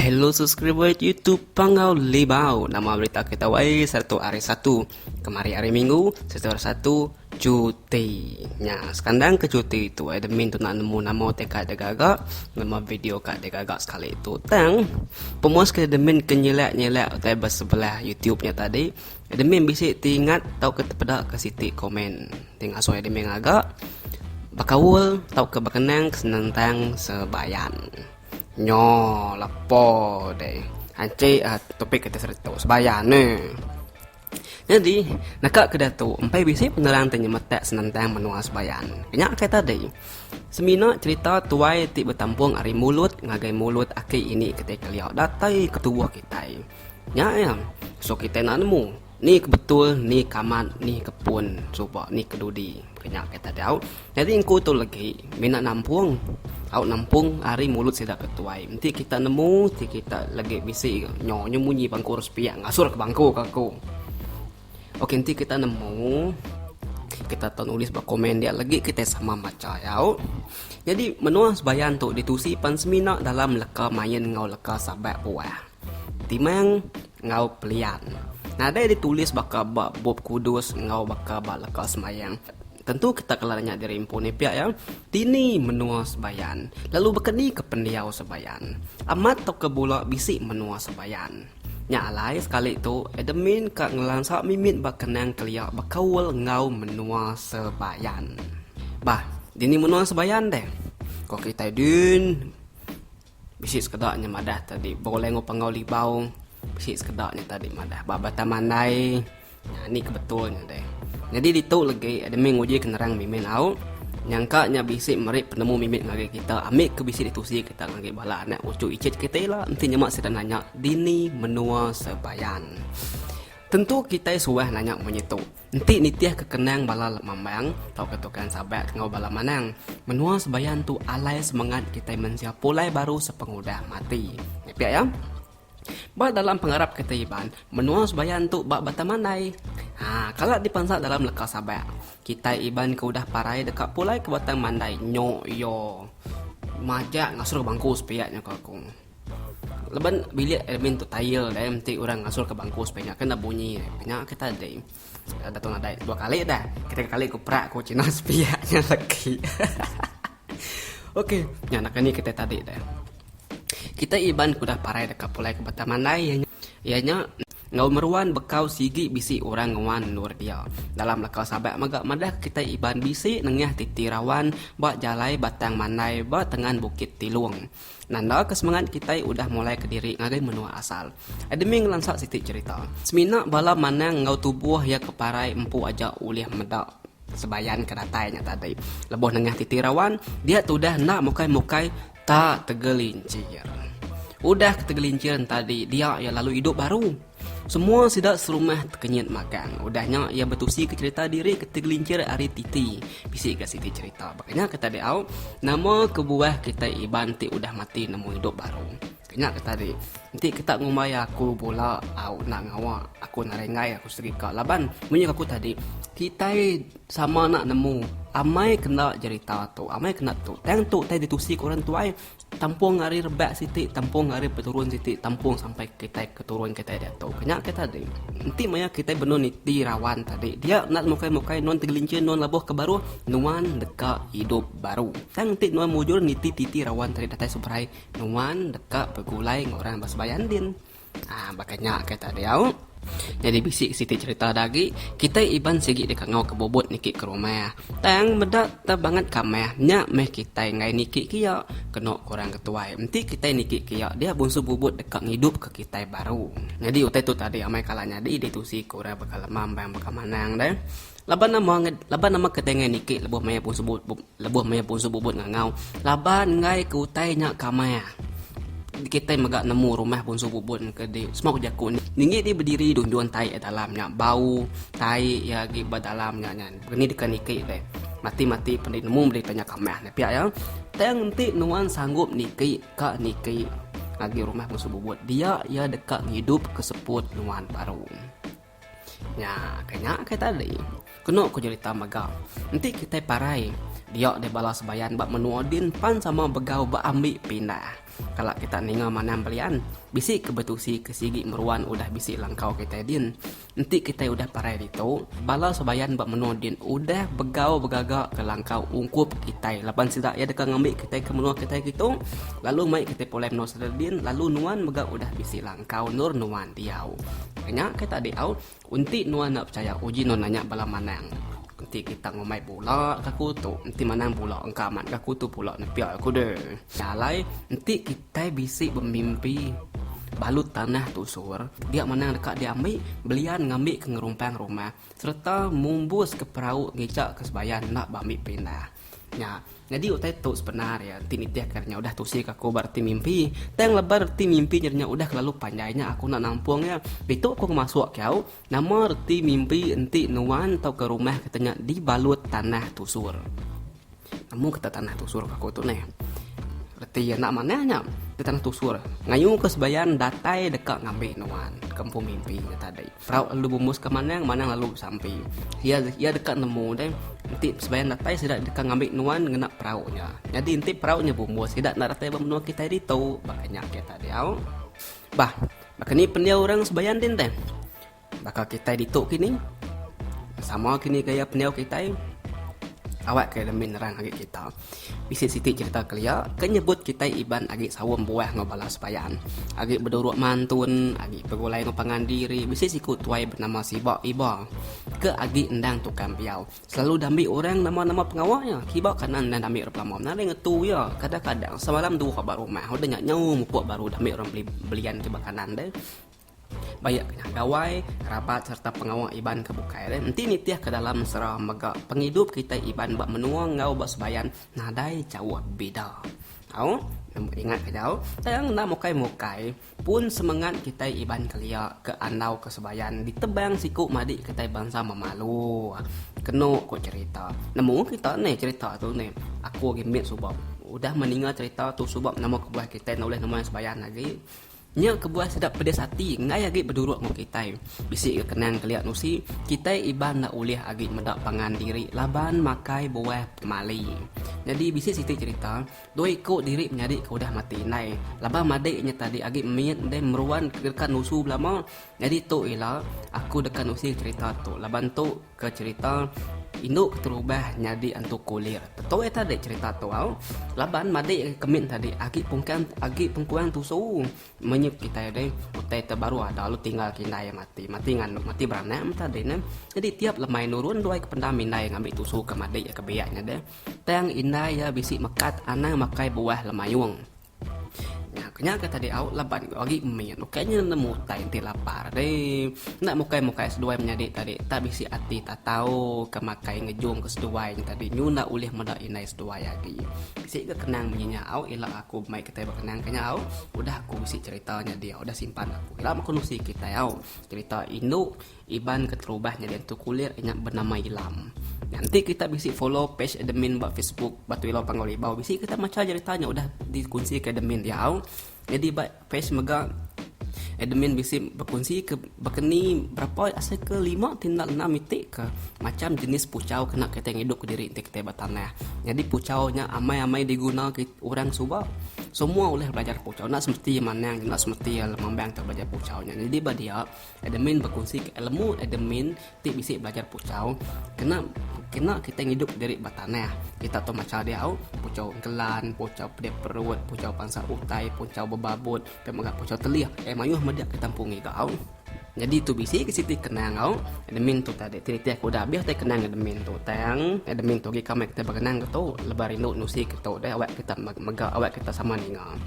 Hello subscriber YouTube Panggau Libau. Nama berita kita wai satu hari satu. Kemari hari Minggu satu hari satu cuti. Nya sekandang ke cuti tu ai demin tu nak nemu nama te ka de gaga, nama video ka de gaga sekali tu. Tang pemuas ke demin ke nyelak-nyelak utai besebelah YouTube nya tadi. Admin bisi ti ingat tauka tepeda ke siti komen ti ngasoi admin ngaga bekaul tauka bekenang senentang sebayan. Nyo lepo deh anchi topik ati sereto sebayan neh. Nyadi naka ke diatu empai bisi penerang ti nyemetak senentang menua sebayan. Nya kai tadi semina cherita tuai ti betampung ari mulut ngagai mulut aki ini kitai kelia datai ke tubuh kitai. Nya iya. So kitai enda nemu ni ke betul, ni ke amat, ni ke pun suba, ni ke dudi. Ke nya kata diau. Nyadi engku tu legi mina nampung. Au nampung ari mulut sida ke tuai. Enti kita nemu ti kita legi bisi nyonya munyi bangku orang sepiak ngasur ke bangku ke aku. Okey nanti kita nemu kita tahu nulis ba komen dia lagi kita sama baca ya. Jadi menua sebayan tu ditusi pan semina dalam leka main ngau leka sabat buah. Timang ngau pelian. Nadai ditulis baka ba bup kudus ngau baka ba leka semayang. Tentu kita kala nanya diri empu ni pia ya. Tini menua sebayan. Lalu baka ni ke pendiau sebayan. Amat tau ke bula bisi menua sebayan. Nya alai, sekali tu, admin ka ngelansa mimit ba kenang kelia bekaul enggau menua Sebayan. Bah, dini menua Sebayan deh? Ko kitai din. Bisi sekeda nya madah tadi. Bau lengo pangau libau. Bisi sekeda nya tadi madah. Ba Batang Mandai. Nya ni ke betul nya deh. Nyadi ditu legi admin nguji ke nerang Mimin au nyangka nya bisi meri penemu mimit ngagai kita ambi ke bisi ditusi kita ngagai bala anak uchu icit kita ila enti nyema sida nanya dini menua Sebayan. Tentu kitai suah nanya munyi tu enti nitih ke kenang bala lemambang tauka Tukang Sabak enggau bala Manang. Menua Sebayan tu alai semengat kitai mensia pulai baru sepengudah mati. Nepek iya? Ba dalam pengarap kitai Iban, menua Sebayan tu ba Batang Mandai. Ha, kala dipansa dalam leka Sabak, kitai Iban ke udah parai deka pulai ke Batang Mandai nyo iyo majak ngasur bangku sepiak nyo ko aku. Laban bilik admin tu tail deh enti orang ngasur ke bangku sepiak nya kena bunyi nya ke tadi. Dato nadai dua kali dah. Ketiga kali ku perak ku cina sepiak nya legi. Okey, nya naka ni kitai tadi deh. Kitai Iban ke udah parai deka pulai ke Batang Mandai iya nya iya nya enggau meruan bekau sigi bisi orang nguan endur dia. Dalam leka Sabak mega madah ke kitai Iban bisi nengah titi rawan ba jalai Batang Mandai ba tengan Bukit Tilung. Nanda ke semangat kitai udah mulai ke diri ngagai menua asal. Admin ngelansa siti cherita. Semina bala manang enggau tubuh iya ke parai empu aja ulih meda Sebayan ke datai nya tadi. Leboh nengah titi rawan, dia tudah enda mukai-mukai ta tegelincir. Udah ke tegelincir nya tadi, dia iya lalu idup baru. Semua sida serumah tekenyit magang. Udah nya iya betusi ke cherita diri ke tegelincir ari titi. Bisi ga siti cherita. Baka nya ke tadi au, nama kebuah kitai Iban ti udah mati nemu idup baru. Nya ke tadi. Enti ke tak ngumbai aku bula au enda ngawa aku narai enggai aku serika laban munyi aku tadi kitai sama enda nemu amai kena jerita tu amai kena tu tang tu utai ditusi ku orang tuai tampung ari rebak siti tampung ari peturun siti tampung sampai kitai ke turun kitai diatu ke nya ke tadi enti maya kitai benung niti rawan tadi dia enda mukai mukai nuan tegelincir nuan labuh ke baruh nuan deka idup baru tang enti nuan mujur niti titi rawan tadi datai seberai Nuan deka begulai enggau orang ba sembahyang din. Haa baka nya ke tadi au. Nyadi bisi siti cherita da agi. Kitai Iban sigi deka enggau ke bubut niki ke rumah. Tang meda te banget kamah nya meh kitai enggai niki ke iya. Kenu ke orang ketuai enti kitai niki ke iya dia bunsu bubut deka ngidup ke kitai baru. Nyadi utai tu tadi amai kala nyadi ditu si ke orang baka lema mbai baka manang deh. Laban nama laban nama ke tengai niki lebuh maya punsu bubut lebuh maya punsu bubut ngangau laban enggai ke utai nya ke amai kitai mega nemu rumah punsu bubut ke di semua ke jaku ni ninggi ti bediri dunjun tai ke dalam nya bau tai iya agi ba dalam nya nyan pengeni deka niki deh mati mati pen nemu berita nya ke amai nya pia iya tang enti nuan sanggup niki ka niki ngagai rumah punsu bubut dia iya deka ngidup ke seput nuan baru. Nya, ke nya ke tadi. Kenu ku jelita mega. Enti kitai parai, dia deh bala sebayan ba menua din pan sama begau ba ambi pindah. Kala kita ninga manam belian, bisi ke betusi ke sigi meruan udah bisi langkau kitai din. Enti kitai udah parai ditu, bala sebayan ba menua din udah begau begaga ke langkau ungkup kitai laban sida iya deka ngambi kitai ke menua kitai kitu lalu mai kitai pulai menua sida din lalu nuan mega udah bisi langkau. Engkau endur nuan diau. Nya ke tadi au, enti nuan enda pechaya uji nuan nanya bala manang. Enti kita ngumbai bula ka kutu, enti manang bula engka amat ka kutu pula nepia aku de. Nya alai enti kitai bisi bemimpi balut tanah tusur, dia manang deka diambi belian ngambi ke ngerumpang rumah sereta mumbuska perau ngejaka sebaya enda ba ambi pindah. Nya. Nyadi utai tu sebendar iya enti nitihka nya udah tusi ke aku ba reti mimpi. Tang leban reti mimpi nyadi nya udah kelalu panjai nya aku enda nampung iya. Ditu aku ngemasuk ke au, nama reti mimpi enti nuan tauka rumah kita nya dibalut tanah tusur. Nemu kita tanah tusur ke aku tu neh. Reti iya enda manah nya. Tanah tusur. Ngayuka sebian datai deka ngambi nuan ke empu mimpi nya tadi. Sarawk lalu bumbus ka Manang, Manang lalu besampi. Iya iya deka nemu deh. Enti sebayan datai sida deka ngambi nuan ngena perau nya. Nyadi enti perau nya bumbus sida enda datai ba menua kitai ditu, baka nya ke Tadeo. Bah, baka ni pendiau orang sebayan din deh. Baka kitai ditu kini. Sama kini gaya pendiau kitai. Awak ke demi nerang agi kita. Bisi siti cerita kelia ke nyebut kitai Iban agi saum buah enggau bala sebayan, agi beduruk mantun, agi begulai enggau pangan diri. Bisi siku tuai benama Siba Iba ke agi endang tukang empiau. Selalu dambi orang nama-nama pengawa iya. Kiba kana endang dambi orang pelama menaring ngetu iya. Kadang-kadang semalam dua ba rumah udah nya nyau mupuk baru dambi orang beli belian kiba kanan deh. Bayak kenyah gawai, kerabat sereta pengawa Iban ke bukai le enti nitih ke dalam mesra mega pengidup kitai Iban ba menua enggau ba sebayan nadai jauh bida. Au, nombor ingat ke jau, tang enda mukai-mukai pun semengat kitai Iban kelia ke andau ke sebayan ditebang siku madik kitai bansa Memalu. Kenu ku cherita. Nemu kita ne cherita tu ne. Aku agi mit suba udah meninga cherita tu suba nama kebuah kitai enda ulih ngemai sebayan agi. Nya kebuah sedap pedis ati enggai agi beduruk enggau kitai. Bisi ga kenang kelia nusi, kitai Iban enda ulih agi meda pangan diri laban makai buah pemali. Nyadi bisi siti cherita, dua iku diri menyadi ke udah mati indai laban madik inya tadi agi mit deh meruan deka nusu belama. Nyadi tu ila aku deka nusi cherita tu laban tu. Ke cerita indu keterubah nyadi antu kulir. Betul ya tadi cerita tu au. Laban madik agi kemit tadi agi pungkang agi pengkuang tusu menyup kitai deh. Utai te baru ada lu tinggal kindai ya mati. Mati nganduk mati beranak meh tadi ne. Jadi tiap lemai nurun duai ke pendam indai ngambi tusu ke madik ya ke biak nya deh. Tang indai ya bisi mekat anang makai buah lemayung. Nya kenyang ke tadi au laban ku agi min ukai nya nemu utai enti lapar deh. Enda mukai mukai seduai menyadi tadi tak bisi ati tatau ke makai ngejung ke seduai nya tadi nyu enda ulih meda indai seduai agi. Bisi ke kenang munyi nya au ila aku mai kitai bekenang ke nya au udah aku bisi cerita nya diau udah simpan aku ila meh aku nusi kitai au cerita indu. Iban keterubah nyadi entu kulir inya benama Ilam. Nya enti kita bisi follow page admin ba Facebook Batu Ilau Panggau Ribau bisi kita macha jerita nya udah dikunsika admin diau. Nyadi ba page mega admin bisi bekunsika bekeni berapa asa ke lima ti enda ngena mitikka macham jenis puchau kena kitai ngidup kediri enti kitai ba tanah. Nyadi puchau nya amai-amai diguna kit orang suba. Semua ulih belajar puchau enda semeti iya manang enda semeti iya lemambang tu belajar puchau nya. Nyadi ba dia. Admin bekunsika ilmu admin ti bisi belajar puchau kena kena kitai ngidup diri ba tanah. Kita tu macha diau, puchau engkelan, puchau pedih perut, puchau pansa utai, puchau bebabut, pia mega puchau telih. Ai mayuh meda kita empu ngiga au. Nyadi tu bisi ke siti kenang au. Admin tu tadi ti nitih aku udah abih deh kenang admin tu. Tang admin tu agi ka meh kita begenang ke tu lebuh rindu nusi ke tu deh awak kita mega awak kita sama ninga.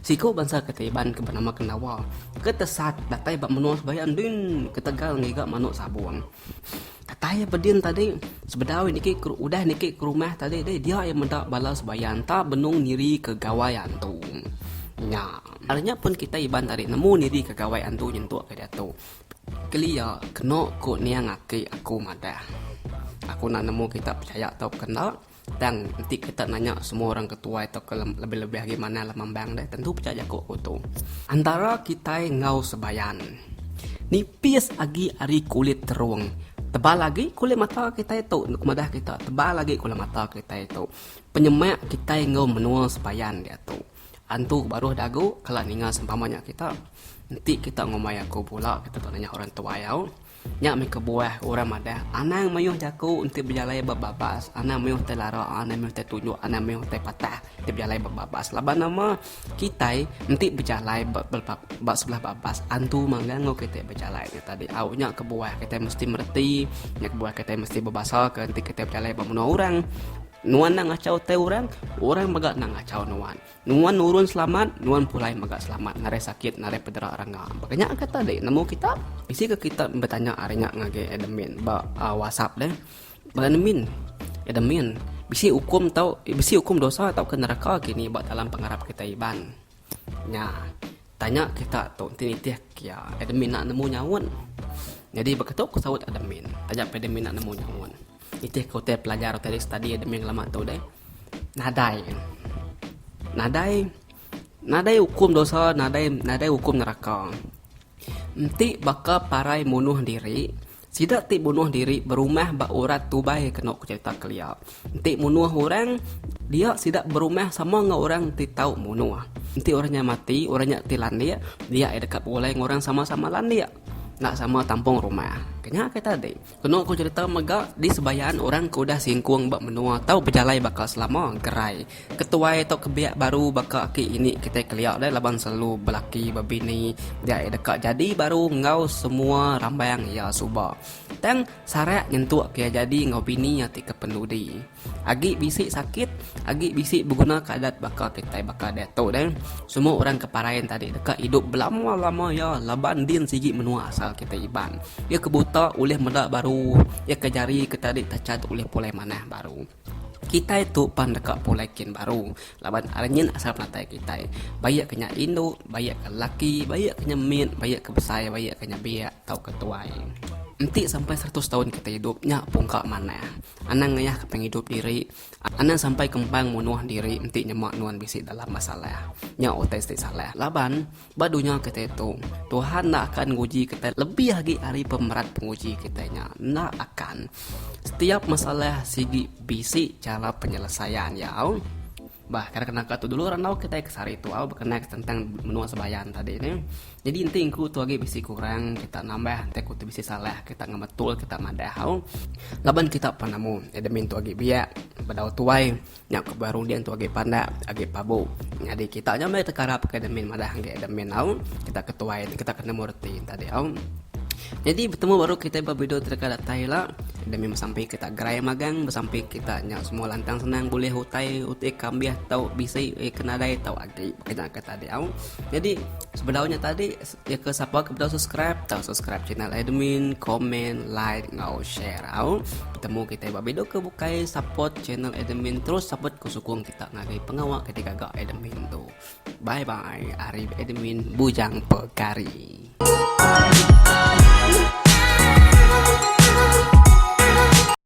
Siku bansa kata Iban ke benama Kendawa ke tesat datai ba menua sebaya endin ketegal ngiga manuk sabung. Kata iya bedin tadi, sebedau niki udah niki ke rumah tadi deh dia iya meda bala sebaya enta benung nirika gawai antu nya. Ari nya pun kitai Iban tadi nemu nirika gawai antu nyentuk ke diatu. Kelia keno ku niang aki aku madah. Aku enda nemu kita pechaya tau ke enda. Tang, enti kita nanya semua orang ke tuai tauka lebih-lebih agi manah lem ambang deh, tentu pecah jaku aku tu. Antara kitai enggau sebayan. Nipis agi ari kulit terung. Tebal agi kulit mata kitai tu, enda madah kita. Tebal agi kulit mata kitai tu. Penyemak kitai enggau menua sebayan diatu. Antu baruh dagu kala ninga sempama nya kita. Enti kita ngumbai aku bula, kita dok nanya orang tuai au. Nya meh kebuah orang madah, anang mayuh jaku enti bejalai ba babas, anang mayuh tai lara, anang mayuh tai tunjuk, anang mayuh tai patah enti bejalai ba babas. Laban nama kitai enti bejalai ba ba sebelah babas antu manggang enggau kitai bejalai nya tadi. Au nya kebuah kitai mesti mereti, nya kebuah kitai mesti bebasaka enti kitai bejalai ba menua orang. Nuan enda ngachau utai orang, orang mega enda ngachau nuan. Nuan nurun selamat, nuan pulai mega selamat ngarai sakit ngarai pedera orang nya. Baka nya ke tadi nemu kita, bisi ke kita betanya ari nya ngagai admin ba uh, WhatsApp deh. Ba admin, admin bisi hukum tau bisi hukum dosa tau ke neraka kini ba dalam pengarap kita Iban. Nya, tanya kita tu enti nitih ke iya, admin nak nemu nyaut. Jadi baka tu aku saut admin. Tanya pe admin nak nemu nyaut. Nitih ke utai pelajar utai study admin lama tu deh. nadai nadai nadai ukum dosa nadai nadai ukum neraka enti baka parai munuh diri sida ti munuh diri berumah ba urat tubai kena ku cerita kelia enti munuh orang dia sida berumah sama enggau orang ti tau munuh enti orang nya mati orang nya ti landik dia deka pulai enggau orang sama-sama landik enda sama tampung rumah kena ke tadi. Kenu ku cherita mega, di sebayaan orang ke udah singkung ba menua tau bejalai baka selama, gerai, ketuai tau kebiak baru baka aki ini kitai kelia deh laban selalu belaki ba bini dia iya deka jadi baru enggau semua rambang iya suba. Tang sarak nyentuk ke iya jadi enggau bini iya ti ke pendudi. Agi bisi sakit, agi bisi begunaka adat baka kitai baka diatu deh. Semua orang ke Parain tadi deka idup belama-lama iya laban din sigi menua asal kitai Iban. Iya ke buta ulih meda baru, iya ke jari ke tadi tachat ulih pulai manah baru. Kitai tu pan deka pulai kin baru laban ari nyin asal penatai kitai. Baie ke nya indu, baie ke lelaki, baie ke nya mit, baie ke besai, baie ke nya biak tauka tuai. Enti sampai seratus taun kitai idup nya pungka manah. Anang ngayahka pengidup diri, anang sampai kembang munuh diri enti nyema nuan bisi dalam masalah. Nya utai siti salah. Laban, ba dunya kitai tu, Tuhan enda akan nguji kitai lebih agi ari pemerat penguji kitai nya. Enda akan. Setiap masalah sigi bisi chara penyelesaian iya. Bah, kena naka tu dulu randau kitai ke sehari tu au bekenai tentang menua sembahyang tadi nih. Nyadi enti engku tu agi bisi kurang, kita nambah. Enti aku tu bisi salah, kita ngemetul, kita madah au. Laban kita penemu, admin tu agi biak, bedau tuai. Nya ku baru din tu agi pandak, agi pabu. Nyadi kita nya meh tekarap ke admin madah enggai admin au. Kita ke tuai, kita ke nemu reti nya tadi au. Nyadi betemu baru kitai ba video ti deka datai ila. Admin besampi kita gerai magang, besampi kita nya semua lantang senang bulih utai, utai ke ambih tau bisi, ke nadai tau agi. kena ke tadi au jadi sebedau nya tadi ya ke sapa ke bedau subscribe tau subscribe channel admin komen like ngau share au temu kita ba video ke bukai support channel admin terus support ku sukung kita ngagai pengawa ke tiga ga admin tu bye bye ari admin bujang pekari